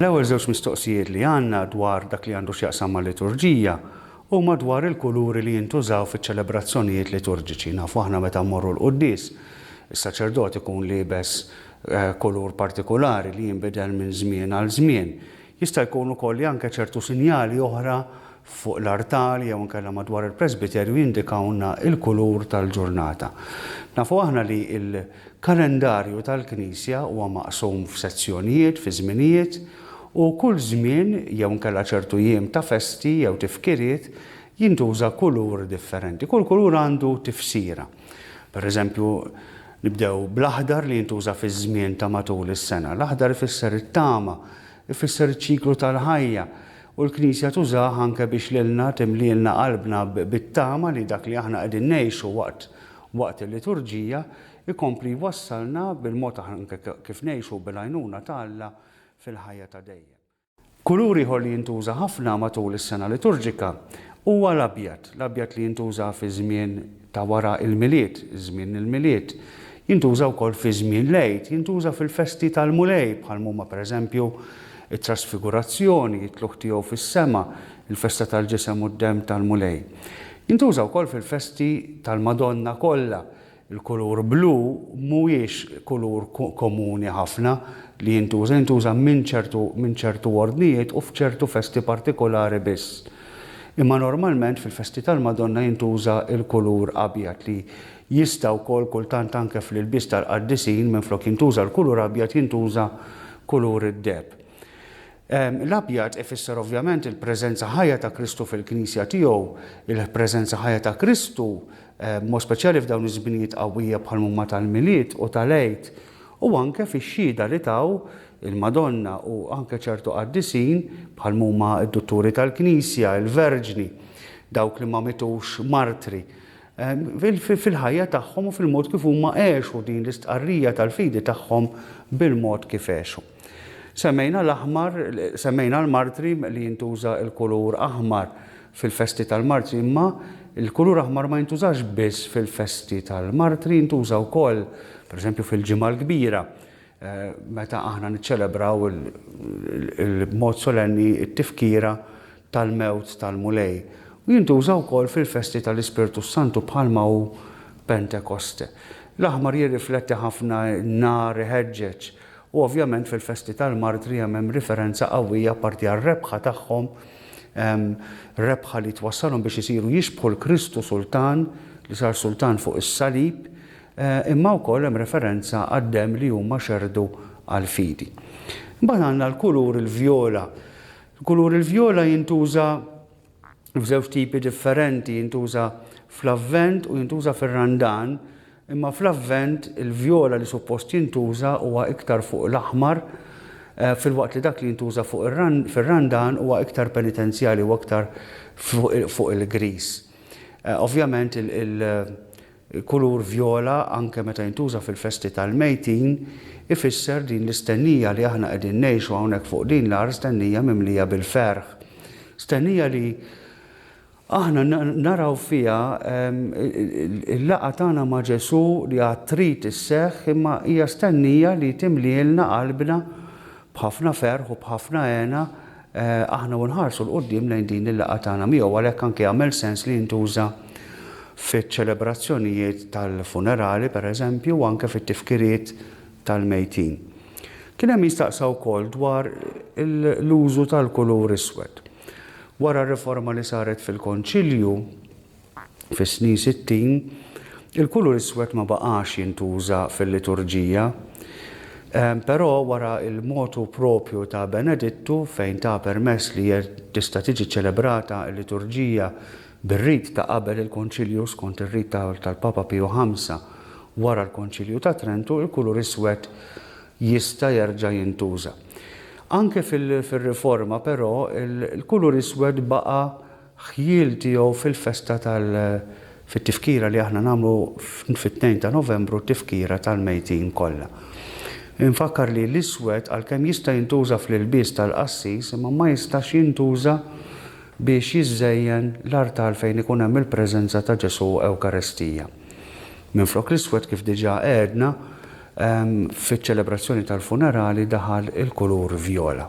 L-ewwel żewġ mistoqsijiet li għandna dwar dak li għandu x'jaqsam mal-liturġija huma dwar il-kuluri li jintużaw fiċ-ċelebrazzjonijiet liturġiċi. Nafu aħna meta mmorru l-quddies, is-saċerdot ikun liebes kulur partikulari li jinbidel minn żmien għal żmien. Jista' jkun ukoll li anke ċertu sinjali oħra fuq l-artal jew inkella madwar il-presbiterju jindikawlna l-kulur tal-ġurnata. Nafu aħna li l-kalendarju tal-Knisja huwa maqsum f'sezzjonijiet, fi żminijiet, u kull żmien jew inkella ċertu jiem ta' festi jew tifkiriet jintuża kulur differenti. Kull kulur għandu tifsira. Pereżempju, nibdew bl-aħdar li jintuża fiż-żmien ta' matul is-sena. L-aħdar ifisser it-tama, ifisser iċ-ċiklu tal-ħajja, u l-Knisja tużah anke biex lilna timlielna qalbna bit-tama li dak li aħna qegħdin ngħixu waqt waqt il-liturġija jkompli jwassalna bil-mod anke kif ngħixu bil-għajnuna ta' Alla fil-ħajja ta' dejjem. Kulur ieħor li jintuża ħafna matul is-sena liturġika huwa l-abjad, l-abjad li jintuża fiż-żmien ta' wara l-Milied, żmien il-Milied. Jintuża wkoll fi żmien l-Għid, jintuża fil-festi tal-Mulej bħal mhuma pereżempju t-Trasfigurazzjoni, it-Tlugħ tiegħu fis-sema, il-festa tal-Ġisem u d-Demm tal-Mulej. Jintuża wkoll fil-festi tal-Madonna kollha, Il-kulur blu mhuwiex kulur komuni ħafna li jintuża, jintuża minn ċertu minn ċertu ordnijiet u f'ċertu festi partikulari biss. Imma normalment fil-festi tal-Madonna jintuża l-kulur abjad li jista' wkoll kultant anke fl-ilbies tal-qaddisin minflok jintuża l-kulur abjad jintuża kulur id-deheb. L-abjad ifisser ovvjament il-preżenza ħajja ta' Kristu fil-Knisja tiegħu, il-preżenza ħajja ta' Kristu, b'mod speċjali f'dawn iż-żminijiet qawwija bħal m'huma tal-Milied u tal-Għid, u anke fix-xhieda li taw il-Madonna u anke ċertu qaddisin bħal m'huma d-Dutturi tal-Knisja, il-Verġni, dawk li ma mitux martri. fil-ħajja tagħhom u fil-mod kif huma għexu din l-istqarrija tal-fidi tagħhom bil-mod kif għexu. Semmejna l-aħmar, semmejna l-martri li jintuża l-kulur aħmar fil-festi tal-martri, imma l-kulur aħmar ma jintużax biss fil-festi tal-martri, jintuża wkoll, pereżempju, fil-Ġimgħa l-Kbira, eh, meta aħna niċċelebraw il-mod solenni t-tifkira tal-mewt tal-Mulej, u jintuża wkoll fil-festi tal-Ispirtu s-Santu bħalma hu Pentekoste. L-aħmar jirrifletti ħafna n-nar iħeġġeġ, u ovvjament fil-festi tal-martri hemm hemm riferenza qawwija apparti għar-rebħa tagħhom, rebħa li twassalhom biex isiru jixbħu l-Kristu Sultan li sar Sultan fuq is-Salib, imma wkoll hemm referenza għad-demm li huma xerrdu għall-fidi. Imbagħad għandna l-kulur il-vjola Il-kulur il-vjola jintuża f'żewġ tipi differenti, jintuża fl-Avvent u jintuża fir-Randan, imma fl-Avvent il-vjola li suppost jintuża huwa iktar fuq l-aħmar, filwaqt li dak li jintuża fuq fir-Randan huwa iktar penitenzjali, huwa iktar fuq il-griż. Ovvjament il Il-kulur vjola, anke meta jintuża fil-festi tal-mejtin, ifisser din l-istennija li aħna qegħdin ngħixu hawnhekk fuq din l-art, stennija mimlija bil-ferħ. Stennija li aħna naraw fiha l-laqgħa tagħna ma' Ġesù li għad trid isseħħ, imma hija stennija li timlielna qalbna b'ħafna ferħ u b'ħafna hena, Aħna u nħarsu 'l quddiem lejn din il-laqgħa tagħna miegħu għalhekk anke jagħmel sens li jintuża fiċ-ċelebrazzjonijiet tal-funerali pereżempju u anke fit-tifkiriet tal-mejtin. Kien hemm min staqsa wkoll dwar l-użu tal-kulur iswed. Wara r-riforma li saret fil-Konċilju, Fis-snin sittin, il-kulur iswed ma baqax jintuża fil-liturġija. Però wara l-motu proprju ta' Benedittu, fejn ta permess li tista' tiġi ċċelebrata l-liturġija bir-rit ta' qabel il-Konċilju skont ir-rit tal-Papa Piju Ħamsa wara l-Konċilju ta' Trentu, il-kulur iswed jista' jerġa' jintuża. Anke fir-Riforma, però, il-kulur iswed baqa' ħjiel tiegħu fil-festa tal fit-tifkira li aħna nagħmlu fit-tnejn ta' Novembru t-tifkira tal-mejtin kollha. Infakkar li l-iswed għalkemm jista' jintuża fl-ilbies tal-qassis imma ma jistax jintuża biex jiżżejjen l-artal fejn ikun hemm il-preżenza ta' Ġesù Ewkarestija. Minflok l-iswed kif diġà għedna fiċ-ċelebrazzjoni tal-funerali daħal il-kulur vjola.